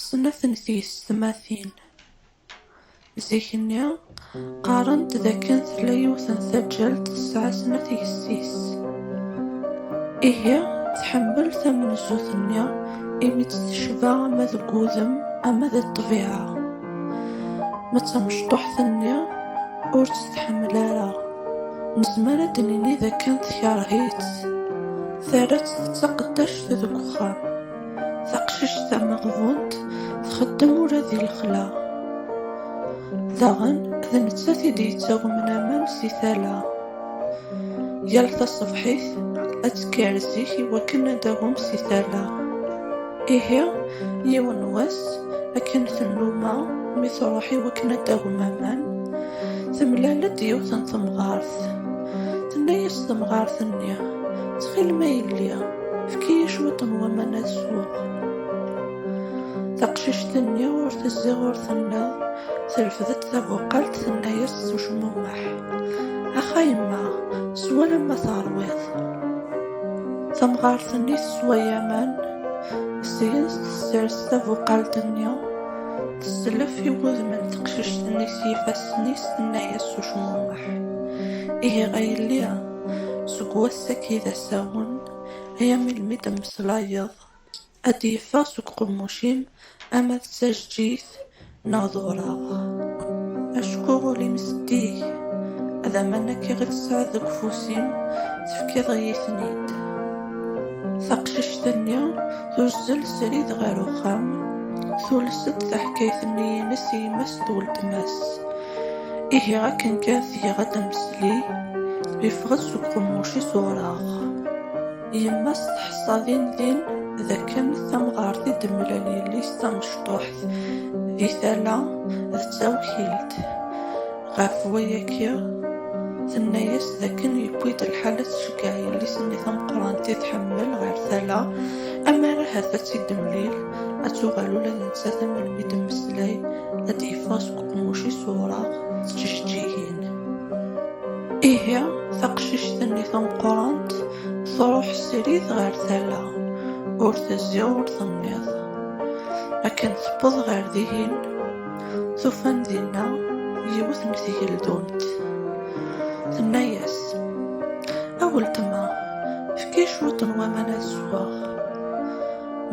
Snat n teysetmatin zik-nni qqarent d akken tella yiwet n taǧǧalt tesɛa snat yessi-s. Ihi tḥemmel tamenzut-nni imi tt-tecba ama deg wudem ama di ṭṭbiɛa. Ma d tamecṭuḥt-nni ur tt-tḥemmel ara, nezmer ad d-nini d akken tekreh-itt, terra-tt d taqeddact deg uxxam. Taqcict tameɣbunt txeddem ula di lexla. Daɣen d nettat i d-yettagmen amam si tala. Yal taṣebḥit ad tekker zik i wakken ad d-agum si tala. Ihi yiwen wass akken tennuma mi truḥ i wakken ad d-agum aman, temlal-d yiwet n temɣart. Tenna-yas temɣart-nni, Ttxil ma yelli, Efk-iyi cwiṭ n waman ad sweɣ. Taqcict-nni ur tezzi ur tenna, terfed-d tabuqalt tenna-yas s ucmumeḥ, Ax a yemma, sew alamma teṛwiḍ. Tamɣart-nni teswa aman, seg-s tessers tabuqalt-nni, teslef i wudem n teqcict-nni s yifassen-is tenna-yas s ucmumeḥ, Ihi a yelli, seg wass-agi d yemdasawen, ay am ilmi d-temmeslayeḍ, ad d-yeffeɣ seg uqemmuc-im ama d tajeǧǧigt neɣ d ureɣ. Acku ul-im zeddig, ad aman akka i tesɛiḍ deg ufus-im, tefkiḍ-iyi-ten-id. Taqcict-nni tuzzel srid ɣer uxxam, tules-d taḥkayt-nni-ines i yemma-s d weltma-s. Ihi akken kan tgiɣ ad d-temsli, yeffeɣ-d seg uqemmuc-is ureɣ. Yemma-s teḥṣa din din d akken tamɣart i d-temlal yelli-s d tamecṭuḥt, di tala d tawkilt. Ɣef wayagi, tenna-yas d akken yewwi-d lḥal ad tceggeɛ yelli-s-nni tameqqrant i tḥemmel ɣer tala, ammer ahat ad tt-id-temlil, ad tuɣal ula d nettat am melmi d-temmeslay, ad d-yeffeɣ seg Qmuc isureɣ s tjeǧǧigin. Ihi, taqcict-nni tameqqrant truḥ srid ɣer tala, ur tezzi ur tenniḍ. Akken tewweḍ ɣer dihin, tufan dinna yiwet n tgeldunt. Tenna-yas, A weltma, efk-iyi cwiṭ n waman ad sweɣ.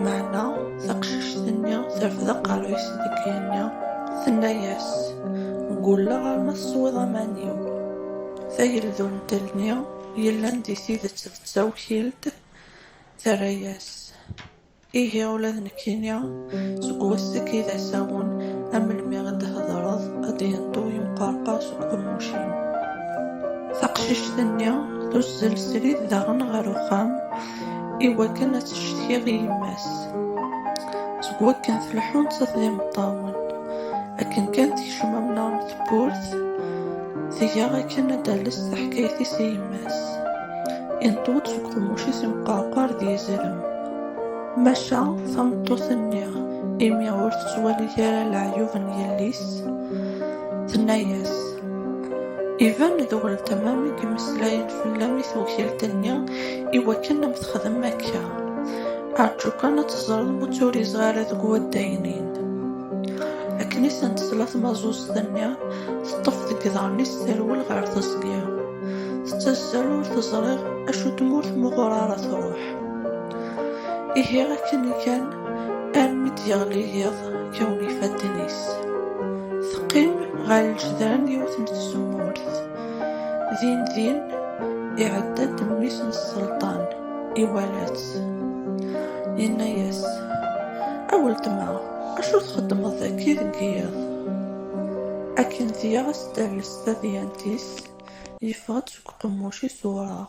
Meɛna taqcict-nni terfed aqerru-is deg yigenni, tenna-yas, Ggulleɣ arma teswiḍ aman-iw. Tageldunt-nni yellan di tidet d tawkilt, terra-yas, Ihi ula d nekkini, seg waseg i d asawen, a melmi i d-thedreḍ, a d-yenṭu yemqerqer seg uqemmuc-im. Taqcict-nni tuzzel srid daɣen ɣer uxxam. i wakken ad teccetkiɣ i yemma-s. Seg wakken tleḥḥun-tt d imeṭṭawen, akken kan tekcem amnaɣ n tewwurt, tga akken ad d-tales taḥkayt-is i yemma-s. Inṭew-d seg uqemmuc-is imqerqar d yizrem. Maca tameṭṭut-nni, imi ur tettwali ara leɛyub n yelli-s, tenna-as, Iban d weltma-m i yemeslayen fell-am i tewkilt-nni, Iwakken am texdem akka, aɛǧu kan ad teẓreḍ ur tturizeɣ ara deg waddagen-in. Akken i sen-tesla tmaẓuẓt-nni, teṭṭef deg iḍarren-is terwel ɣer teẓgi. Tettazzal ur teẓriɣ acu tmurt muɣur ara truḥ. Ihi akken kan armi d-yeɣli yiḍ kkawen yifadden-is. Teqqim ɣer lǧedran yiwet n tzemmurt. Din din, iɛedda-d mmi-s n Selṭan, iwala-tt. Yenna-yas, A weltma, acu txeddmeḍ dagi deg yiḍ? Akken tga as-d ares tadyant-is, yeffeɣ-d seg uqemmuc-is ureɣ.